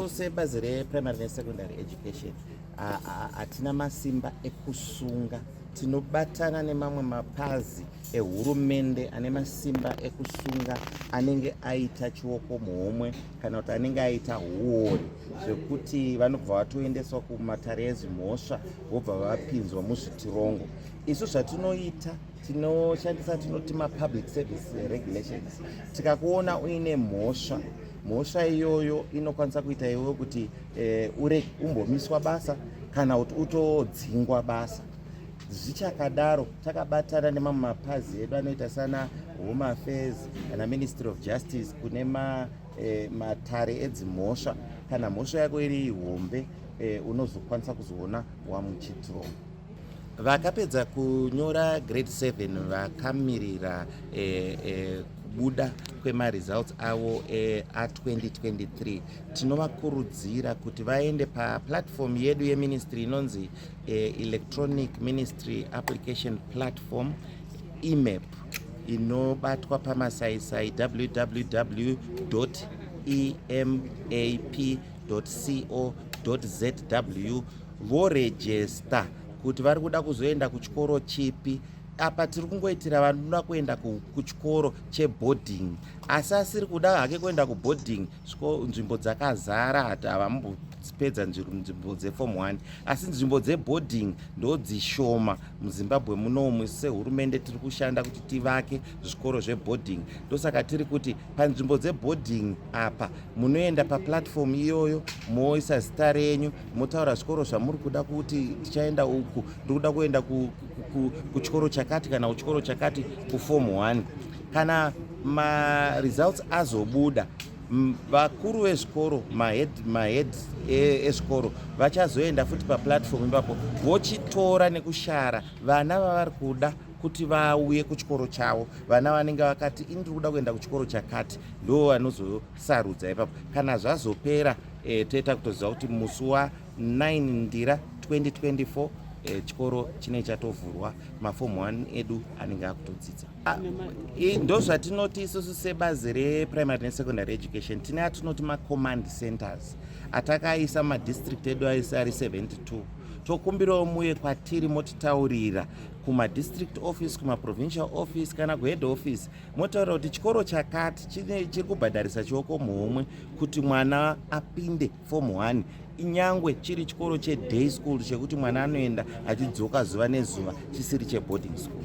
sebazi reprimary nesecondary education hatina masimba ekusunga tinobatana nemamwe mapazi ehurumende ane masimba ekusunga anenge aita chioko muhomwe kana kuti anenge aita huori zvekuti vanobva vatoendeswa kumatare ezimhosva vobva vapinzwa muzvitirongo isu zvatinoita tinoshandisa tinoti mapublic service regulations tikakuona uine mhosva mhosva iyoyo inokwanisa kuita iwe kuti eh, ure umbomiswa basa kana kuti utodzingwa basa zvichakadaro takabatana nemamwe mapazi edu anoita sana home affairs kana ministry of justice kune ma, eh, matare edzimhosva kana mhosva yako iri hombe eh, unozokwanisa kuzoona wamuchitiroma Vakapedza kunyora grade 7 vakamirira eh, eh, kubuda kwemaresults avo eh, a2023 tinovakurudzira kuti vaende paplatform yedu yeministry inonzi eh, electronic ministry application platform emap inobatwa pamasaisai www emap www.ccc.co.zw vorejesta kuti vari kuda kuzoenda kuchikoro chipi apa tiri kungoitira vanoda kuenda kuchikoro cheboarding asi asiri kuda hake kuenda kuboarding sviko nzvimbo dzakazara hati havambopedza nzvimbo dzefom 1 asi nzvimbo dzeboarding ndodzishoma muzimbabwe munomu sehurumende tiri kushanda kuti tivake zvikoro zveboarding ndosaka tiri kuti panzvimbo dzeboarding apa munoenda paplatform iyoyo moisa zita renyu motaura zvikoro zvamuri kuda kuti tichaenda uku ndiri kuda kuenda kuchikoro chakati kana kuchikoro chakati kuform one kana maresults azobuda vakuru vezvikoro mahead mahead e, ezvikoro vachazoenda futi paplatform ipapo vochitora nekushara vana vavari kuda kuti vauye kuchikoro chavo vana vanenge vakati ini ndiri kuda kuenda kuchikoro chakati ndo vanozosarudza ipapo kana zvazopera e, toita kutoziva kuti musi wa 9 ndira 2024 e, chikoro chinenge chatovhurwa mafom 1 edu anenge akutodzidza ah, ndo zvatinoti isusu sebazi reprimary nesecondary education tine atinoti macommand centers atakaisa madistrict edu aise ari 72 tokumbirawo muye kwatiri motitaurira kumadistrict office kumaprovincial office kana kuhead office motaura kuti chikoro chakati chiri kubhadharisa chioko muhomwe kuti mwana apinde form one inyangwe chiri chikoro cheday school chekuti mwana anoenda achidzoka zuva nezuva chisiri cheboarding school